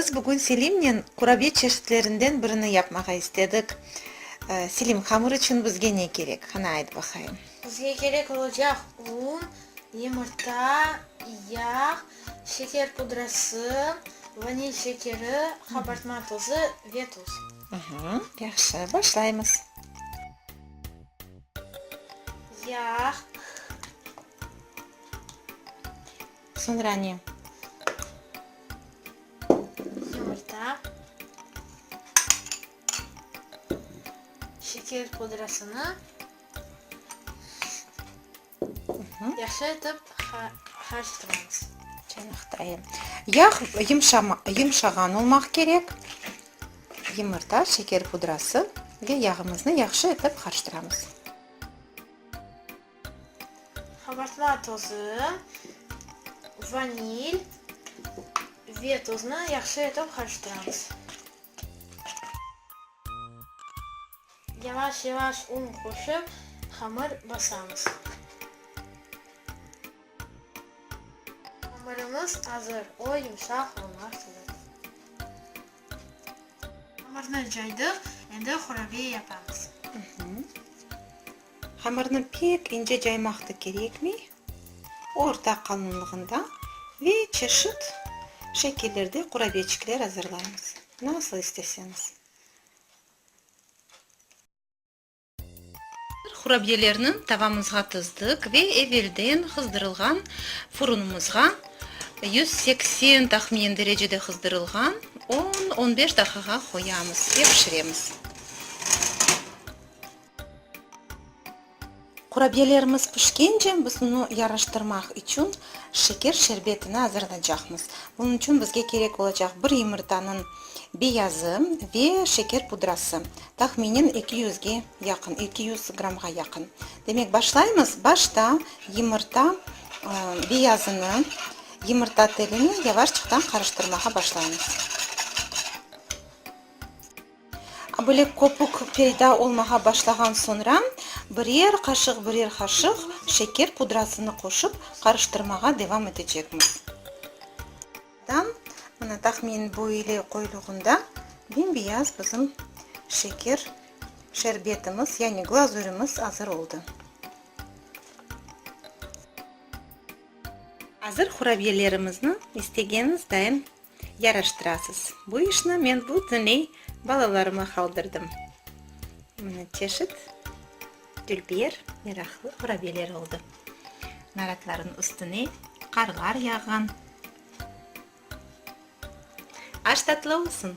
Biz bugün Selimnen kurabiye çeşitlerinden birini yapmağa istedik. Selim, hamır içün bizge ne kerek, qana ayt baqayım? Bizge kerek olacaq un, yumurta, yağ, şeker pudrası, vanil şekeri, qabartma tozı ve tuz. Yahşı, başlaymız. Yağ. Soñra ne? Yumurta. Şeker pudrasını yahşı etip qarıştırıñız. Çaynaktayım. Yağ yımşağan olmaq kerek. Yımırta, şeker pudrası ve yağımıznı yahşı etip qarıştıramız. Qabartma tozı, vanil ve tuznı yahşı etip qarıştıramız. Yavaş-yavaş un qoşıp, hamır basamız. Hamırımız azır, o yumşaq olmaq kerek. Hamırnı caydıq, endi hurabiye yapamız. Hamırnı pek ince caymaq da kerekmey, orta qalınlığında ve çeşit şekillerde qurabiyeçikler azırlaymız, nasıl isteseñiz. Hurabiyelerni tavamızğa tızdıq ve evelden hızdırılğan furunımızğa, yüz seksen tahminen derecede hızdırılğan, on, on beş daqiqa qoyamız ve pişiremiz. Qurabiyelerimiz pişkence, biz onı yaraştırmaq içün şeker şerbetini azırlaycaqmız. Bunıñ içün bizge kerek olacaq bir yumurtanıñ beyazı ve şeker pudrası, tahminen eki yüzge yaqın, eki yüz grammğa yaqın. Demek, başlaymız. Başta yumurta beyazını yumurta telini yavaşçıqtan qarıştırmağa başlaymız. Böyle köpük peyda olmağa başlağan soñra, birer qaşıq-birer qaşıq şeker pudrasını qoşıp qarıştırmağa devam etecekmiz. Mına, tahminen bu ile qoyulğanda bembeyaz bizim şeker şerbetimiz, yani glazürimiz azır oldı. Azır qurabiyelerimizniñ istegeñiz dayım Yaraştırasız. Bu işni men bütünley balalarıma qaldırdım. Mına çeşit tülpiyer yaraqlı qurabiyeler oldı. Naratların üstüne qarlar yağğan. Aş tatlı olsun!